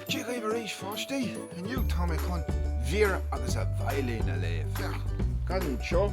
Dia dhaoibh arís a pháistí! Inniu tá mé chun Vera agus a Veidhlín a léamh. Féach anseo?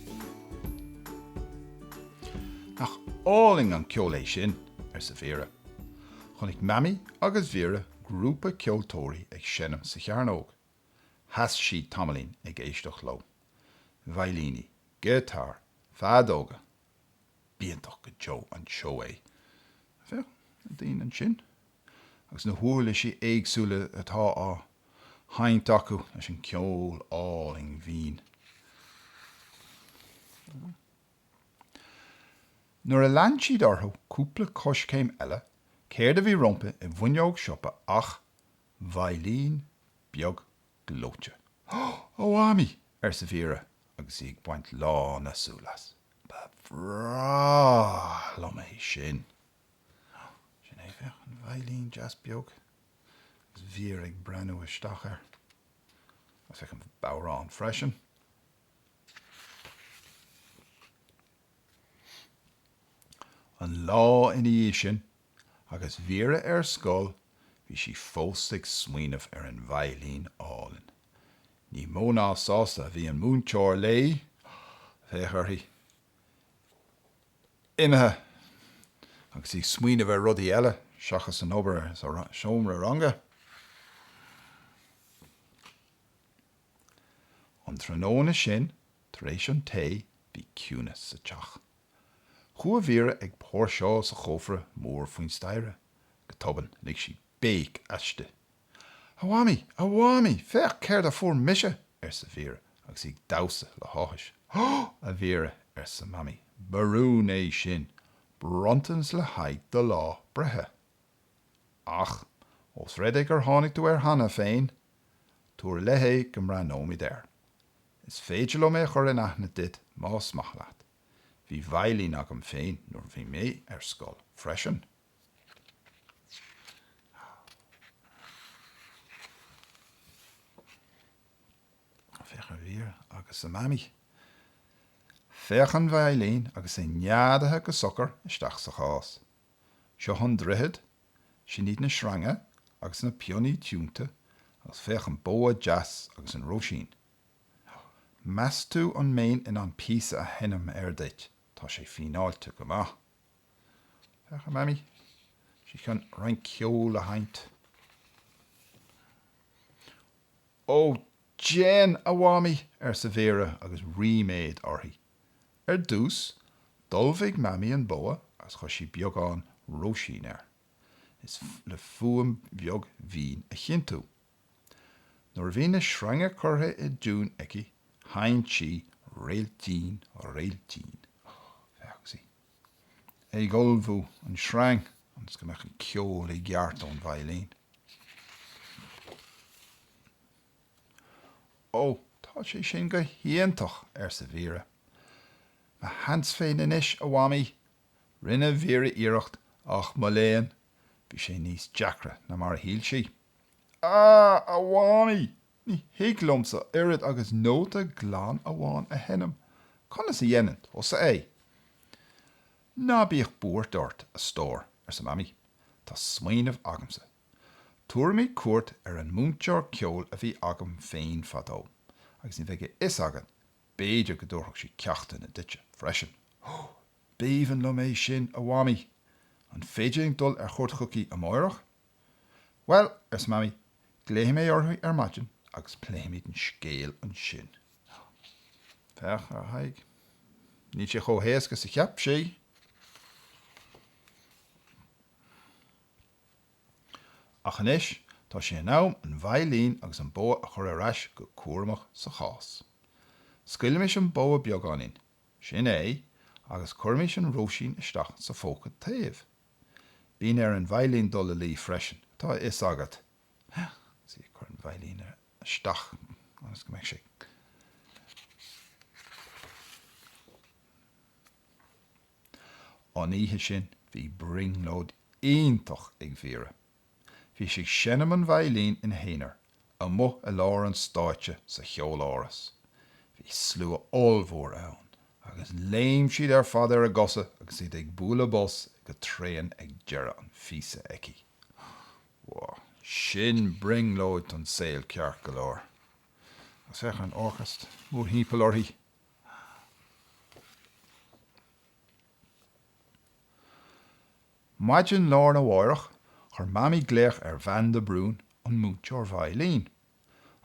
Nach álainn an ceol é sin? arsa Vera. Chonaic Mamaí agus Vera grúpa ceoltóirí ag seinm sa chearnóg. Sheas siad tamaillín ag éisteacht leo. Veidhlíní, giotáir, feadóga. B'iontach go deo an seó é. Féach na daoine anseo agus na huirlisí éagsúla atá á seinnt acu leis an gceol álainn binn. Nuair a lean siad orthu cúpla coiscéim eile, céard a bhí rompu i bhfuinneog siopa ach veidhlín beag gleoite. Ó a Mhamaí! arsa Vera agus í ag baint lán na súl as. Ba bhreá liom é sin. Sin é, féach, an veidhlín deas beag agus Vera ag breathnú isteach air. Agus féach an bodhrán freisin. An lá ina dhiaidh sin, agus Vera ar scoil, bhí sí fós ag smaoineamh ar an veidhlín álainn. Ní mó ná sásta a bhí an múinteoir léi, féach uirthi, imithe agus í ag smaoineamh ar rudaí eile seachas an obair sa seomra ranga. An tráthnóna sin, tar éis an tae, bhí ciúnas sa teach. Chuaigh Vera ag póirseáil sa chófra mór faoin staighre. Go tobann, lig sí béic aisti. A Mhamaí! A Mhamaí! Féach céard a fuair mise! arsa Vera agus í ag damhsa le háthas. Ó, a Vera, arsa Mamaí, ba rún é sin! Bronntanas le haghaidh do lá breithe. Ach, ós rud é gur tháinig tú air cheana féin, tabhair i leith é go mbreathnóimid air. Is féidir liom é a chur in aithne duit más maith leat. Bhí veidhlín agam féin nuair a bhí mé ar scoil freisin. Féach ar Vera agus a Mamaí. Féach an veidhlín agus é neadaithe go socair isteach sa chás. Seo an droichead, sin iad na sreanga agus na pionnaí tiúnta agus féach an bogha deas agus an roisín. Meas tú an mbeinn in ann píosa a sheinm air duit? Tá sé fíneáilte go maith. Féach ar Mhamaí, is í chun roinnt ceoil a sheinnt. Ó, déan, a Mhamaí! arsa Vera agus ríméad uirthi. Ar dtús, d'ullmhaigh Mamaí an bogha agus chuir sí beagán róisín air le fuaim bheag mhín a chinntiú. Nuair a bhí na sreanga curtha i dtiún aici sheinn sí Réiltín, réiltín. Bhí sí ag ullmhú an sreang ionas go mbeadh an ceol i gceart ón veidhlín. Ó, tá sé sin go hiontach, arsa Vera. Mo sheans féin anois, a Mhamaí! Rinne Vera iarracht ach, mo léan, bhí sé níos deacra ná mar a shíl sí. Ah, a Mhamaí, ní thig liomsa oiread agus nóta glan amháin a sheinm. Conas a dhéanann tusa é? Ná bíodh buairt ort, a stór, arsa Mamaí. Tá smaoineamh agamsa. Tabharfaimid cuairt ar an múinteoir ceoil a bhí agam féin fadó, agus ní bheadh a fhios agat, b'fhéidir go dtabharfadh sí ceachtanna duitse freisin. B'aoibhinn liom é sin, a Mhamaí. An féidir linn dul ar chuairt chuici amáireach? Bhuel, arsa Mamaí, glaofaidh mé uirthi ar maidin agus pléifimid an scéal ansin. Á, féach ar a haghaidh. Níl sé chomh héasca is a cheap sí! Ach anois tá sé in am an veidhlín agus an bogha a chur ar ais go cúramach sa chás. Scaoilimis an bogha beagáinín, sin é, agus cuirimis an róisín isteach sa phóca taobh. Bíonn ar an veidhlín dul a luí freisin, tá a fhios agat, sea, ag cur an veidhlín isteach ionas go mbeidh sé An oíche sin bhí brionglóid iontach ag Vera. Bhí sí ag seinm an veidhlín ina haonar, amuigh i lár an stáitse sa Cheoláras. Bhí slua ollmhór ann, agus léim siad ar fad ar a gcosa agus iad ag bualadh bos go tréan ag deireadh an phíosa aici. Wow, sin brionglóid don saol ceart go leor. Agus féach ar an orchestra mórthimpeall uirthi. Maidin lá arna mháireach, chuir Mamaí glaoch ar Bhean de Brún, an múinteoir veidhlín.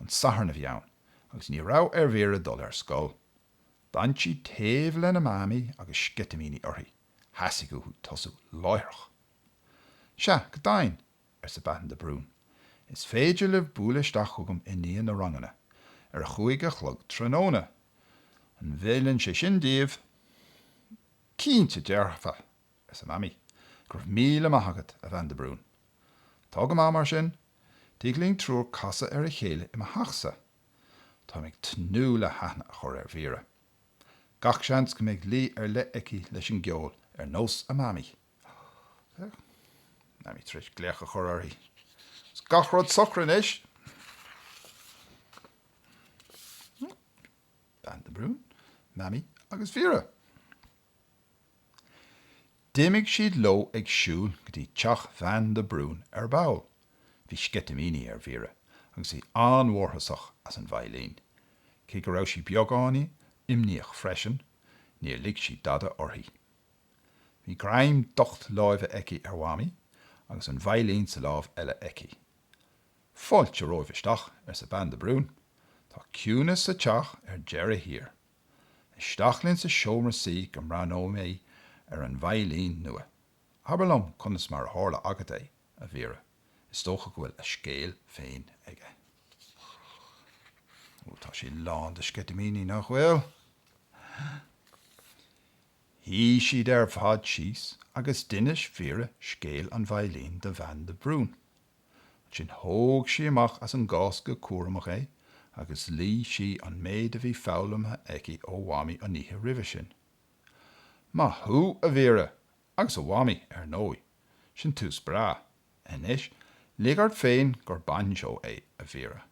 An Satharn a bhí ann, agus ní raibh ar Vera dul ar scoil. D'fhan sí taobh lena Mamaí agus sceitimíní uirthi. Theastaigh uaithi tosú láithreach. 'Sea, go deimhin, arsa Bean de Brún. 'Is féidir libh bualadh isteach chugam i ndiaidh na ranganna, ar a chúig a chlog tráthnóna. An bhfeileann sé sin daoibh? 'Cinnte dearfa! arsa Mamaí. Go raibh míle maith agat, a Bhean de Brún. Tá go maith, mar sin. Tig linn triúr casadh ar a chéile i mo theachsa. Tá mé ag tnúth le haithne a chur ar Vera. Gach seans go mbeidh luí ar leith aici leis an gceol ar nós a Mamaí. Mamaí tar éis glaoch a chur uirthi. Is gach rud socair anois! Bean de Brún, Mamaí agus Vera. D'imigh siad leo ag siúl go dtí teach Bhean de Brún ar ball. Bhí sceitimíní ar Vera agus í an-mhórtasach as an veidhlín. Cé go raibh sí beagáinín imníoch freisin, níor lig sí dada uirthi. Bhí greim docht láimhe aici ar Mhamaí agus an veidhlín sa lámh eile aici. 'Fáilte romhaibh isteach, arsa Bean de Brún. 'Tá ciúnas sa teach ar deireadh thiar. Isteach linn sa seomra suí go mbreathnóidh mé ar an veidhlín nua. Abair liom conas mar a tharla agat é, a Vera. Is dócha go bhfuil a scéal féin aige. Ó, tá sí lán de sceitimíní, nach bhfuil? Shuigh siad ar fad síos agus d'inis Vera scéal an veidhlín do Bhean de Brún. Ansin thóg sí amach as an gcás go cúramach é agus luigh sí an méid a bhí foghlamtha aici ó Mhamaí an oíche roimhe sin. Maith thú, a Vera, agus a Mhamaí, ar ndóigh. Sin tús breá. Anois, lig ort féin gur bainseó é, a Vera,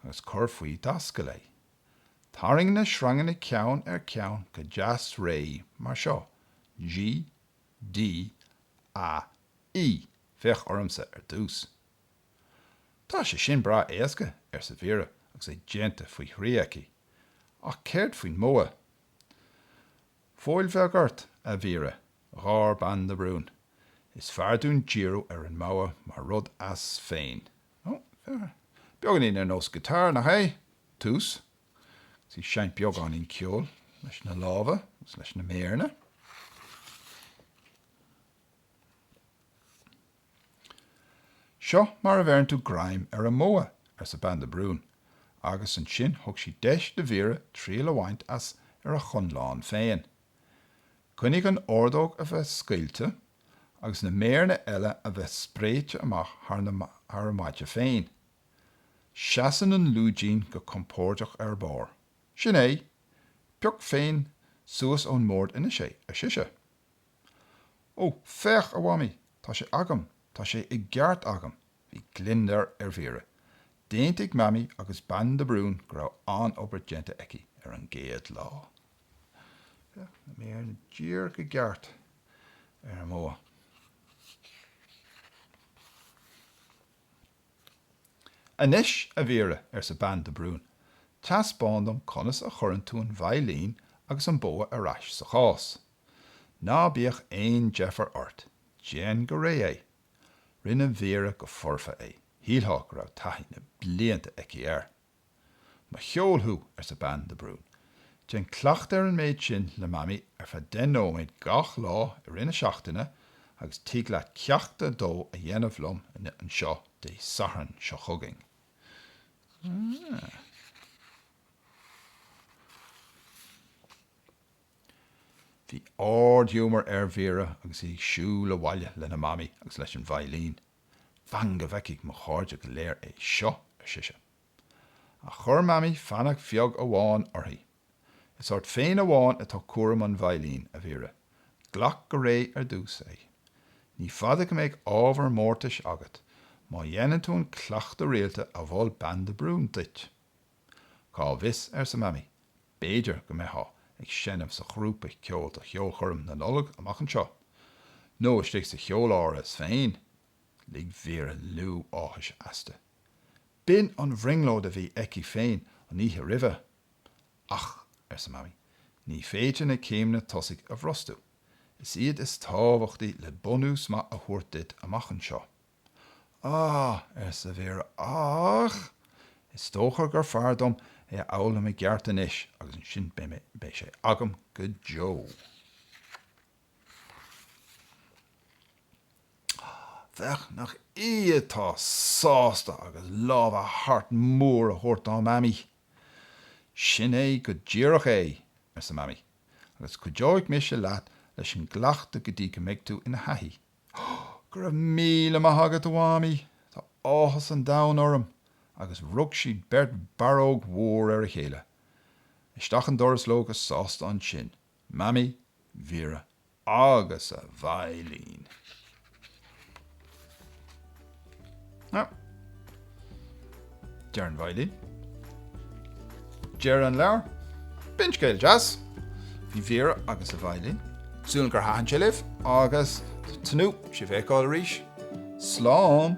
agus cuir faoi d'ascaill é. Tarraing na sreanganna ceann ar cheann go deas réidh mar seo, G, D, A, E. Féach ormsa ar dtús. Tá sé sin breá éasca, arsa Vera agus é déanta faoi thrí aici, ach céard faoin mbogha? Fóill bheag ort, a Vera, gháir Bean de Brún. Is fearr dúinn díriú ar an mbogha mar rud as féin. Beagáinín ar nós guitar, nach é? Tús, agus í ag seinnt beagáinín ceoil leis na lámha agus leis na méireanna. Seo mar a bheireann tú greim ar an mbogha, arsa Bean de Brún, agus ansin thug sí deis do Vera triail a bhaint as ar a chonlán féin. Coinnigh an ordóg a bheith scaoilte, agus na méaranna eile a bheith spréite amach thar an maide féin. Seasann an lúidín go compóirdeach ar barr. Sin é! Pioc féin suas ón mbord anois é, ar sise. Ó, féach, a Mhamaí, tá sé agam, tá sé i gceart agam! Bhí gliondar ar Vera. D'aontaigh Mamaí agus Bean de Brún go raibh an-obair déanta aici ar an gcéad lá. Na méaranna díreach i gceart ar an mbogha. Anois, a Vera, arsa Bean de Brún, teaspáin dom conas a chuireann tú an veidhlín agus an bogha ar ais sa chás. Ná bíodh aon deifir ort, déan go réidh é. Rinne Vera go foirfe é, shílfeá go raibh taithí na blianta aici air. Mo cheol thú, arsa bean de Brún. Déan cleachtadh ar an méid sin le Mamaí ar feadh deich nóiméad gach lá i rith na seachtaine agus tig leat ceacht a dó a dhéanamh liom anseo Dé Sathairn seo chugainn. Bhí ard-ghiúmar ar Vera agus í ag siúl abhaile lena mamaí agus leis an veidhlín. 'Fan go bhfeicfidh mo chairde go léir é seo! ar sise. Ach chuir mamaí fainic bheag amháin uirthi, 'Is ort féin amháin atá cúram an veidhlín, a Vera. Glac go réidh ar dtús é. Ní fada go mbeidh ábhar mórtais agat má dhéanann tú an cleachtadh rialta a mhol Bean de Brún duit. Cá bhfios, arsa Mamaí, b'fhéidir go mbeitheá ag seinm sa ghrúpa ceoil do cheolchoirm na Nollag amach anseo, nó istigh sa Cheoláras féin! Lig Vera liú áthais aisti. B'in an bhrionglóid a bhí aici féin an oíche roimhe. Ach, arsa Mamaí, ní féidir na céimeanna tosaigh a bhrostú. Is iad is tábhachtaí le bunús maith a thabhairt duit amach anseo. Ah! arsa Vera, ach is dócha gur fearr dom é a fhoghlaim i gceart anois agus ansin beidh sé agam go deo. Féach nach í atá sásta agus lámha thart mór á thabhairt dá Mamaí. Sin é go díreach é, arsa Mamaí, agus cuideoidh mise leat leis an gcleachtadh go dtí go mbeidh tú ina thaithí. Go raibh míle maith agat, a Mhamaí, tá áthas an domhain orm! agus rug siad beirt barróg mhór ar a chéile. Isteach an doras leo go sásta ansin, Mamaí, Vera agus a veidhlín! Deireadh an veidhlín. Deireadh an leabhair. B'in scéal deas. Bhí Vera agus a veidhlín. Súil agam gur thaitin sé libh agus tnúth sibh a fheiceáil arís. Slán!